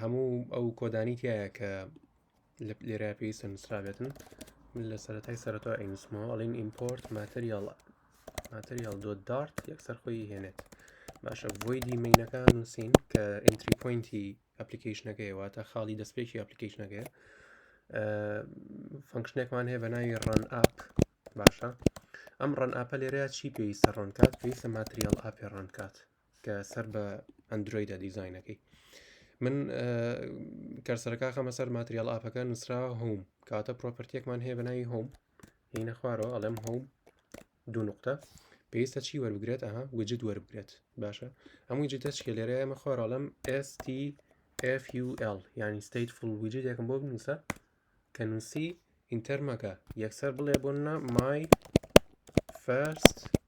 هەموو ئەو کۆدانی تایە کە لە لێرا پێویستە نووسرابێتن من لە سەرەتای سەرەتا ئەینوسمەوە ئەڵین ئیمپۆرت ماتریال ماتریال دۆ دارت یەکسەر خۆی هێنێت باشە بۆی دیمینەکان نووسین کە ئینتری پوینتی ئەپلیکیشنەکەی واتە خاڵی دەستپێکی ئەپلیکیشنەکەی فەنکشنێکمان هەیە بە ناوی ڕەن ئاپ باشە ئەم ڕەن ئاپە لێرەیە چی پێویستە ڕەنکات پێویستە ماتریال ئاپێ ڕەنکات کە سەر بە ئەندرویدە دیزینەکەی من کەسەرەکە خەمە سەر ماتریال ئاپەکە نووسرا هوم کاتە پرۆپەرتیەکمان هەیە بەناوی هوم هینە خوارەوە ئەڵێم هوم دوو نقطە پێویستە چی وەربگرێت ئەها وجد وەربگرێت باشە هەمووی جدە چکە لێرە ئەمە خوارەڵم STFUL ینی ستیت فول وجد یەکم بۆ بنووسە کە نووسی ئینتەرمەکە یەکسەر بڵێ بۆ نە مای فەرست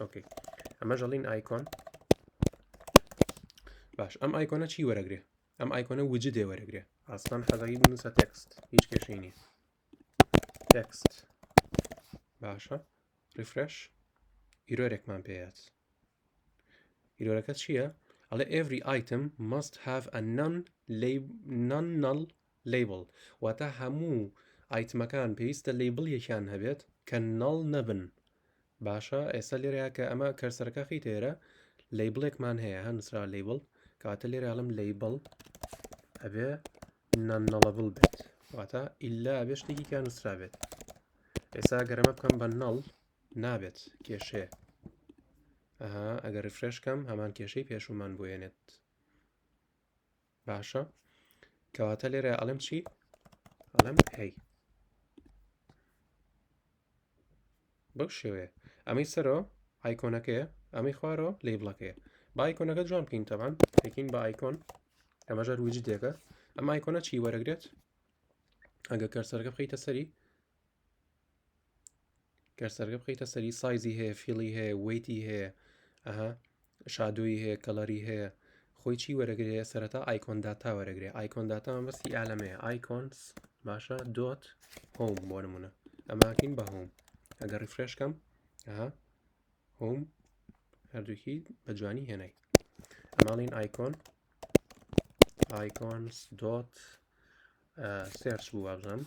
ئۆکی ئەمەش ئەڵین ئایکۆن باش ئەم ئایکۆنە چی وەرەگرێ ئەم ئایکۆنە وجد دێ وەرەگرێ ئاسمان حەزەی بنووسە تێکست هیچ کێشەی نیە تێکست باشە ریفرش ئیرۆرێکمان پێات ئیرۆرەکە چییە؟ ئەڵێ every item must have a non non null لەیبڵ، واتە هەموو ئایتمەکان پێویستە لەیبڵێکیان هەبێت کە نەڵ نەبن باشە ئێستا لێرەیە کە ئەمە کەرسەرەکە خی تێرە لەیبڵێکمان هەیە هە نووسرا لەیبڵ کەواتە لێرەڵم لەیبڵ ئەبێ نەنەڵەبڵ بێت واتە ئللا ئەبێ شتێکی کە نووسرا بێت ئێستا گەرەمە بکەم بە نەڵ نابێت کێشێ ئەها ئەگەر فرێشکەم هەمان کێشەی پێشومان بۆێنێت باشە کەواتە لێرە ئەڵم چی ئەڵم هەی بەو شێوەیە ئەمەی سەرۆ ئایکۆنەکەیە ئەمەی خوارۆ لی بڵەکەیە بایکۆنەکە جوان بکەین تەبان پێکین بە ئایکۆن ئەمەژەر وجدێکە ئەم ئایکۆنە چی وەرەگرێت ئەگە کەرسەرەکە بخیتە سەری گەر سەرگە بخەیتە سەری سایزی هەیە فیڵی هەیە وەیتی هەیە ئەها شادووی هەیە کەڵەری هەیە خۆی چی وەرەگرێ سەرەتا ئایکۆن داتا وەرەگرێ ئایکۆن داتا مەسی ئالەمەیە ئایکۆنس باشە دۆت هۆم بۆ نمونە ئەماکین بە هۆم ئەگەر ڕفرێشکەم ئەها هۆم هەردووکی بە جوانی هێنای ئەماڵین ئایکۆن ئایکۆنس دۆت سێرچ بوو وابزانم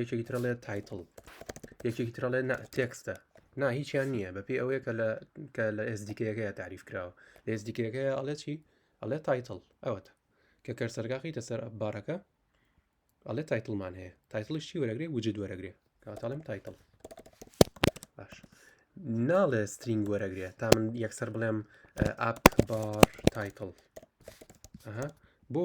یەکێکی ترڵێت تایتڵ یەکێکی ترڵێ تێکستە نا هیچیان نییە بەپی ئەوەیە کە لە کە لە ئێزدیکەکەی تاریف کراوە لە ئێزدیکەکەی ئەڵێ چی ئەڵێ تایتڵ ئەوەتە کە کەرسەرگاقیتە سەر ئەبارەکە ئەڵێ تایتڵمان هەیە تایتڵیش چی وەرەگرێ وجد وەرەگرێ کاتاڵم تایتڵ باش ناڵێ سترینگ وەرەگرێ تا من یەکسەر بڵێم ئاپ بار تایتڵ بۆ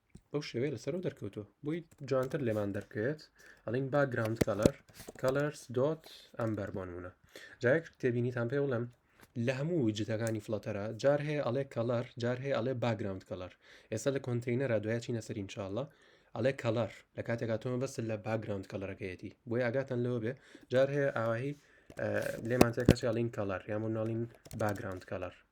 بەو شێوێ لەسەرەوە دەرکەوتووە بۆی جوانتر لێمان دەرکەوێت ئەڵین با گراوند کەلەر کەلەرس دۆت ئەم بەربوونە جایەک تێبینیتان پێ بڵێم لە هەموو جتەکانی فلاتەرە جار هەیە ئەڵێ کەلەر جار هەیە ئەڵێ باگراوند کەلەر ئێستا لە کۆنتینەرە دوای چینە سەرین چاڵە ئەڵێ کەلەر لە کاتێکا تۆمە بەس لە باگراوند کەلەرەکەیەتی بۆی ئاگاتان لەوە بێ جار هەیە ئاواهی لێمان تێکە چاڵین کەلەر یامون ناڵین باگراوند کەلەر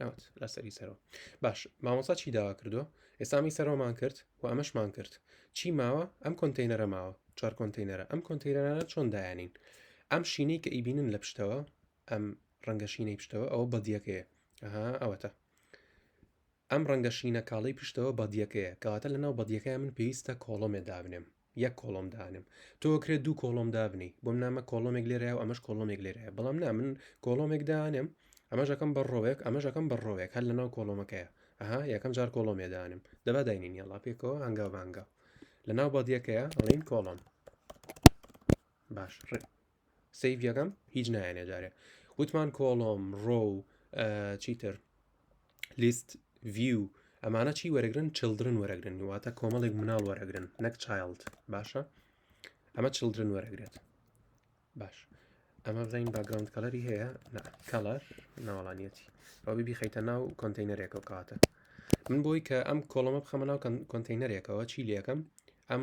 ئەوت لەسەری سەرەوە باش مامۆسا چی داوا کردو ئێسامی سەرۆمان کرد و ئەمەشمان کرد چی ماوە ئەم کۆنتینەرە ماوە چوار کۆنتینەرە ئەم کۆنتینەرانە چۆن دایانین ئەم شینەی کە ئیبینن لە پشتەوە ئەم ڕەنگە شینەی پشتەوە ئەوە بەدیەکەیە ئەها ئەوەتە ئەم ڕەنگە شینە کاڵی پشتەوە بەدیەکەیە کەواتە لەناو بەدیەکەی من پێویستە کۆڵۆمێ دابنێم یەک کۆڵۆم دانێم تۆ کرێت دوو کۆڵۆم دابنی بۆم نامە کۆڵۆمێک لێرەیە و ئەمەش کۆڵۆمێک لێرەیە بەڵام نا من کۆڵۆمێک دانێم ئەمەژەکەم بە ڕۆێک ئەمەژەکەم بە ڕۆێک هەر لەناو کۆڵۆمەکەیە ئەها یەکەم جار کۆڵۆمێ دانم دەبا داینین یاڵا پێکەوە هەنگاو بانگا لەناو بەدیەکەیە ڕین کۆڵۆم باش ڕێ سیڤ یەکەم هیچ نایەنێ جارێ وتمان کۆڵۆم ڕۆ و چیتر لیست ڤیو ئەمانە چی وەرەگرن چلدرن وەرەگرن واتە کۆمەڵێک مناڵ وەرەگرن نەک چایلد باشە ئەمە چلدرن وەرەگرێت باش ئەمە بزین باگراوند کەلەری هەیە کەلەر ناوەڵانیەتی ئەو ببی خەیتە ناو کۆنتینەرێک و کاتە من بۆی کە ئەم کۆڵەمە بخەمە ناو کۆنتینەرێکەوە چی لەکەم ئەم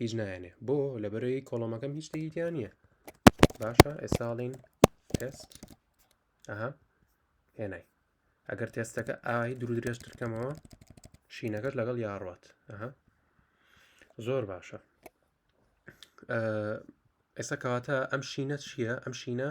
هیچ نایەنێ بۆ لە بەرەی کۆڵۆمەکەم هیچ شتێکی تیا نییە باشە ئێساڵین تست ئەها هێنای ئەگەر تێستەکە ئای درو درێژترکەمەوە شینەکەش لەگەڵ یاڕات ئەها زۆر باشە ئێستا کەواتە ئەم شینە چییە ئەم شینە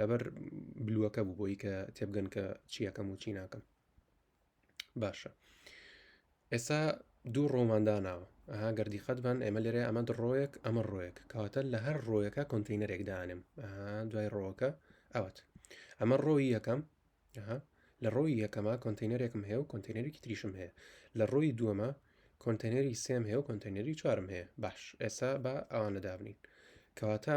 لەبەر بلووەکە بوو بۆی کە تێبگەن کە چیەکەم و چی ناکەم باشە ئێستا دوو ڕۆمانداناوە ئەها گەردی خەتبان ئێمە لێرە ئەمە ڕۆیەک ئەمە ڕۆیەک کەواتە لە هەر ڕۆیەکە کۆنتینەرێک دانم دوای ڕۆکە ئەوەت ئەمە ڕۆی یەکەم لە ڕۆی یەکەمە کۆنتینەرێکم هەیە و کۆنتینەرێکی تریشم هەیە لە ڕۆی دووەمە کۆنتینەری سێم هەیە و کۆنتینەری چوارم هەیە باش ئێستا بە ئەوانە دابنین کەواتە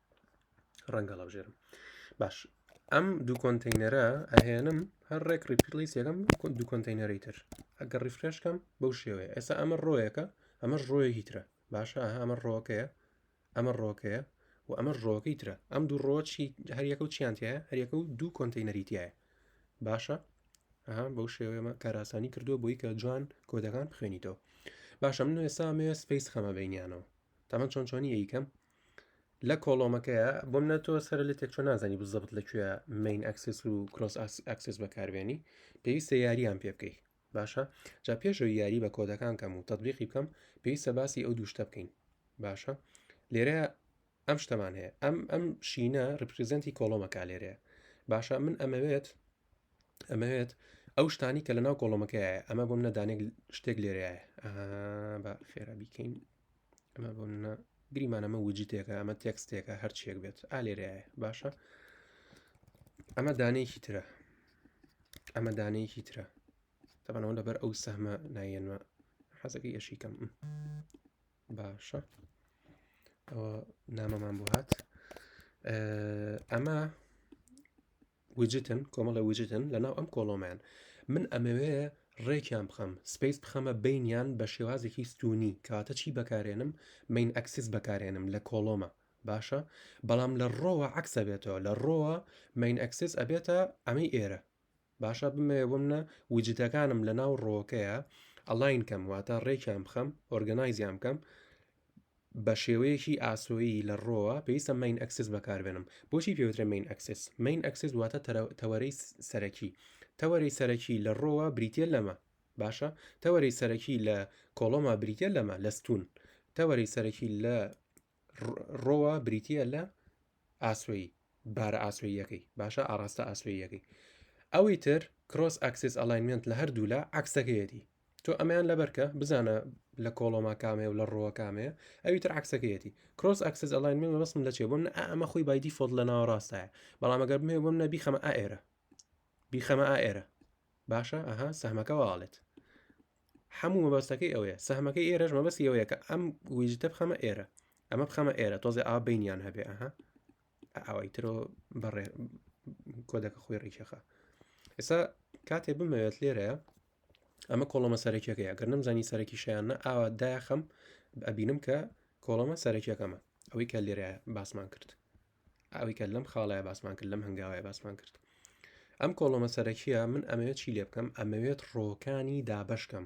ڕەنگە ڵەبژێرم باش ئەم دوو کۆنتینەرە ئەهێنم هەر ڕێک ڕیپلی سێگەم دوو کۆنتینەری تر ئەگەر ڕیفرشکەم بەو شێوەیە ئێستا ئەمە ڕۆیەکە ئەمەش ڕۆیەکی ترە باشە ئەمە ڕۆکەیە ئەمە ڕۆکەیە و ئەمە ڕۆکەی ترە ئەم دوو ڕۆچی هەریەکە و چیانتیایە هەریەکە و دوو کۆنتینەریتیایە باشە ئەها بەو شێوەیەمە کاراسانی کردووە بۆی کە جوان کۆدەکان بخوێنیتەوە باشە من ئێستا مێ سپیس خەمە بینیانەوە تەمە چۆن چۆنی یکەم لە کۆڵۆمەکەیە بۆم نە تۆ سەر لە تێکچۆ نازانی بزەبت لەکوێ مین ئەکسس و کرۆس ئەکسس بەکاربیێنی پێویستە یاریان پێ بکەیت باشە جا پێشەوە یاری بە کۆدەکان کەم و تەبیقی بکەم پێویستە باسی ئەو دووشتە بکەین باشە لێرە ئەم شتەمان هەیە ئەم ئەم شینە ڕپریزنتی کۆڵۆمەکە لێرەیە باشە من ئەمەوێت ئەمەوێت ئەو شتانی کە لە ناو کۆڵۆمەکەیە ئەمە بۆم نەدانێک شتێک لێرەیە بە خێرا بیکەین ئەمە بۆ منە گریمان ئەمە وجیتێکە ئەمە تێکستێکە هەرچێک بێت ئالێرایە باشە ئەمە دانەیەکی ترە ئەمە دانەیەکی ترە تەبانەوە لەبەر ئەو سەمە نایەنمە حەزەکەی ئەشی کەم باشە ئەوە نامەمان بۆ هات ئەمە وجتن کۆمەڵە وجتن لە ناو ئەم کۆڵۆمیان من ئەمەوێ ڕێکیان بخەم سپیس بخەمە بینیان بە شێوازێکی ستونی کاتە چی بەکارێنم مین ئەکسس بەکارێنم لە کۆڵۆمە باشە بەڵام لە ڕۆوە عکسە بێتەوە لە ڕۆوە مین ئەکسس ئەبێتە ئەمەی ئێرە باشە بمەوێ بمنە وجدەکانم لە ناو ڕۆکەیە ئەلاین کەم واتە ڕێکیان بخەم ئۆرگەنایزیان بکەم بەشێوەیەکی ئاسۆیی لە ڕۆوە پێویستە مەین ئەکسس بەکاربێنم بۆچی پێوترە مەین ئەکسس مەین ئەکسس واتە تەوەرەی سەرەکی تەوەرەی سەرەکی لە ڕۆوە بریتە لەمە باشە تەوەری سەرەکی لە کۆڵۆما بریتە لەمە لەستون تەوەری سەرەکی لە ڕۆوە بریتە لە ئاسوی بارە ئاسویەکەی باشە ئاراستە ئاسویەکەی ئەوی تر کرۆس ئەکسس ئەلاینمنت لە هەردوولا عکسەکەیەتی تۆ ئەمەیان لەبەرکە بزانە لە کۆڵۆما کامەیە و لە ڕووە کامەیە ئەوی تر عکسەکەیەتی کرۆس ئەکسس ئەلاین من بەسم لە چێ بم نە ئەمە خۆی بایدی فۆل لە ناوە ڕاستە بەڵام ئەگەر بمێ بم نەبی خەمە ئائێرە بیخەمە ئائێرە باشە ئەها سەمەکە واڵێت هەموو مەبەستەکەی ئەوەیە سەمەکەی ئێرەش مەبەست ئەوەیە کە ئەم ویژتە بخەمە ئێرە ئەمە بخەمە ئێرە تۆزێ ئا بینیان هەبێ ئەها ئاوای ترۆ بەڕێ کۆدەکە خۆی ڕیکەخە ئێستا کاتێ بمەوێت لێرەیە ئەمە کۆڵەمە سەرەکیەکە یاگەر نەمزانی سەرەکی شیانە ئاوا دایخەم ئەبینم کە کۆڵەمە سەرەکیەکەمە ئەوەی کە لێرە باسمان کرد ئەوەی کە لەم خاڵای باسمان کرد لەم هەنگاوای باسمان کرد ئەم کۆڵەمە سەرەکیە من ئەمەوێت چی لێ بکەم ئەمەوێت ڕۆکانی دابشکەم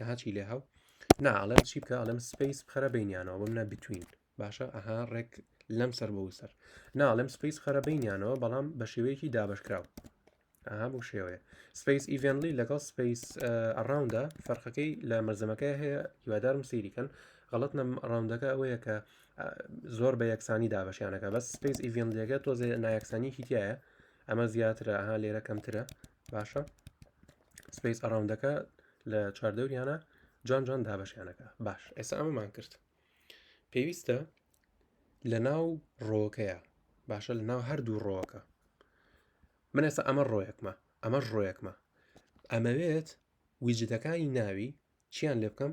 ئەها چی لێ هاو نا ئەڵێم چی بکە ئەڵێم سپیس بخەرە بینیانەوە بم نە بتوین باشە ئەها ڕێک لەم سەر بۆ سەر ناڵێم سپیس خەرە بینیانەوە بەڵام بە شێوەیەکی دابشکراو ئەها بۆ شێوەیە سپیس ئیڤێنلی لەگەڵ سپیس ئەڕاوندا فەرقەکەی لە مەرزەمەکە هەیە هیوادارم سیریکەن غڵت نەم ڕاوندەکە ئەوەیە کە زۆر بە یەکسانی دابشیانەکە بەس سپیس ئیڤێنلیەکە تۆزێ نایەکسانیکی تایە ئەمە زیاترە ئەها لێرە کەمترە باشە سپیس ئەراوندەکە لە چواردەوریانە جوان جوان دابەشیانەکە باش ئێستا ئەمەمان کرد پێویستە لە ناو ڕۆکەیە باشە لە ناو هەردوو ڕۆکە من ئێستا ئەمە ڕۆیەکمە ئەمە ڕۆیەکمە ئەمەوێت ویجدەکانی ناوی چیان لێ بکەم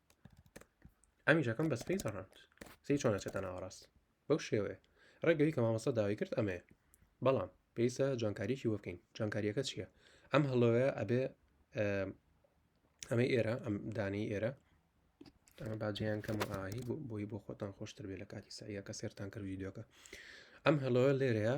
ئەمیش ئەکەم بە سپەی زەڕەند سی چۆن ئەچێتە ناوەڕاست بەو شێوەیە ڕێگەوی کە مامەسە داوای کرد ئەمەیە بەڵام پێویستە جوانکاریکی وە بکەین جوانکاریەکە چییە ئەم هەڵۆیە ئەبێ ئەمە ئێرە ئەم دانی ئێرە ئەمە باجیان کەم ئاهی بۆی بۆ خۆتان خۆشتر بێ لە کاتی ساییە کە سێرتان کرد ویددیوەکە ئەم هەڵۆە لێرەیە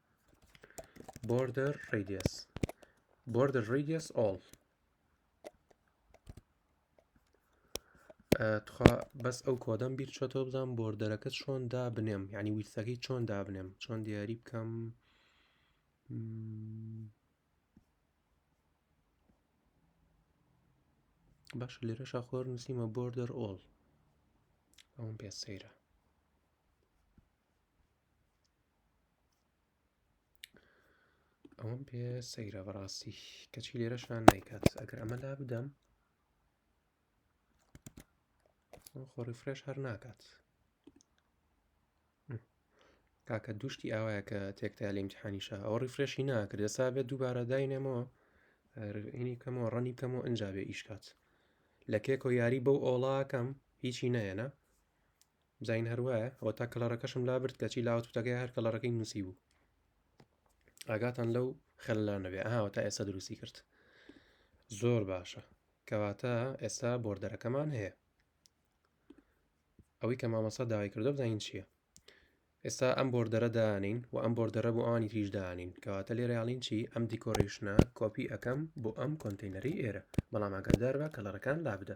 border radius border radius all تخوا بەس ئەو کۆدەم بیر چۆتۆ بزانام بۆردەرەکە چۆن دابنێم ینی ویستەکەی چۆن دابنێم چۆن دیاری بکەم باش لێرە شاخۆر نووسیمە بۆردەر ئۆڵ ئەوم پێ سەیرە ئەوەم پێ سەیرە بەڕاستی کەچی لێرە شان نایکات ئەگەر ئەمە لا بدەم خۆڕی فرێش هەر ناکات کاکە دوشتی ئاوایە کە تێکتا لە امتحانیشە ئەو ڕیفرێشی ناکرد ئێستا بێت دووبارە داینێمەوە ئینی کەمەوە ڕەنی کەمەوە ئەنجا بێ ئیشکات لە کێکۆ یاری بەو ئۆڵاکەم هیچی نەیەە بزین هەر وایە ئەوە تا کەلەڕەکەشم لابرد کەچی لاوە توتەکەی هەر کەلەڕەکەی نووسی بوو ئاگاتان لەو خەلانەوێ ئاوە تا ئێستا دروستی کرد زۆر باشە کەواتە ئێستا بۆردەرەکەمان هەیە ئەوەی کە مامەسا داوای کردو بزانین چییە ئێستا ئەم بۆردەرە دانین و ئەم بۆردەرە بۆ ئانی تریش دانین کەواتە لێرەیاڵین چی ئەم دیکۆریشنە کۆپی ئەەکەم بۆ ئەم کۆنتینەری ئێرە بەڵام ئاگادار بە کەلەڕەکان لا بدە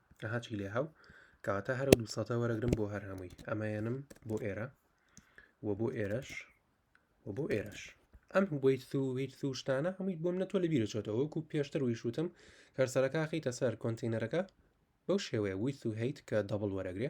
ئەها چی لێ هاو کەواتە هەرە دوو سەتە وەرەگرم بۆ هەر هەمووی ئەمەیەنم بۆ ئێرە و بۆ ئێرەش و بۆ ئێرەش ئەم ویت و ویت و شتانە هەمووی بۆم نە تۆ لە بیرە چۆتەوە وەکو پێشتر وی شوتم کەرسەرەکە خیتە سەر کۆنتینەرەکە بەو شێوەیە ویت و هیت کە دەبڵ وەرەگرێ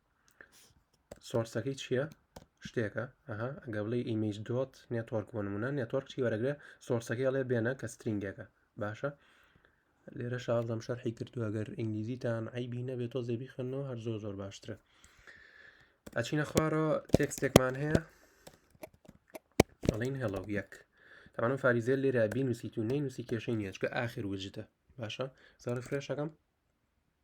سۆرسەکەی چییە شتێکە ئەها ئەگە بڵێ ئیمیج دۆت نێتۆرک بۆ نمونە نێتۆرک چی وەرەگرێ سۆرسەکەی ئەڵێ بێنە کە سترینگێکە باشە لێرە شازدەم شەرحی کردووە گەر ئینگلیزیتان ئایبی نەبێت تۆ زێبی خوێندنەوە هەر زۆر زۆر باشترە ئەچینە خوارەوە تێکستێکمان هەیە ئەڵین هێڵەو یەک تاوانم فاریزێل لێرە بینوسیت و نینوسی کێشەی نیەچکە ئاخر وجدە باشە زارە فرێشەکەم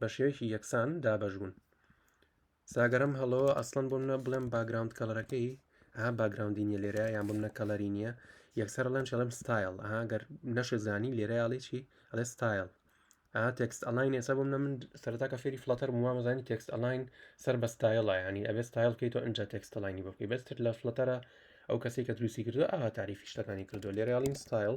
بە شێوەیەکی یەکسان دابەش بوون ساگەرم هەڵەوە ئەسڵەن بۆ منە بڵێم باگراوند کەڵەرەکەی ها باگراوندی نیە لێرە یان بم نە کەڵەری نییە یەکسەر لەم شڵم ستایل ئاگەر نەشزانی لێرە یاڵی چی ئەڵێ ستایل ئا تێکست ئەلاین ێسا بۆ منە من سەرتا کە فێری فلاتەر وامەزانی تێکست ئەلاین سەر بە ستایلە ینی ئەبێ ستایل کەیت و ئەجا تێکستەلاینی بکەی بەستر لە فلتەرە ئەو کەسی کە دروستی کردو ئا تاریفی شتەکانی کردو لێرەڵین ستایل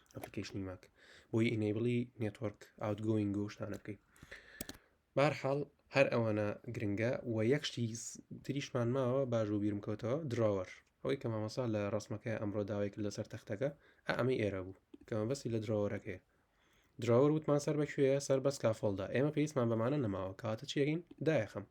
ئەپلیکەیشنی ماک بۆی ئینەیبڵی نێتۆرک ئاوتگۆینگ و شتانە بکەین بارحاڵ هەر ئەوانە گرنگە و یەک شتی تریشمان ماوە باش و بیرم کەوتەوە دراوەر ئەوەی کە مامەسا لە ڕسمەکە ئەمڕۆ داوای کرد لەسەر تەختەکە ئەمەی ئێرە بوو کەمە بەسی لە دراوەرەکەی دراوەر وتمان سەر بەکوێە سەر بەس کافۆلدا ئێمە پێویستمان بەمانە نەماوە کاتە چێگەین دایەخەم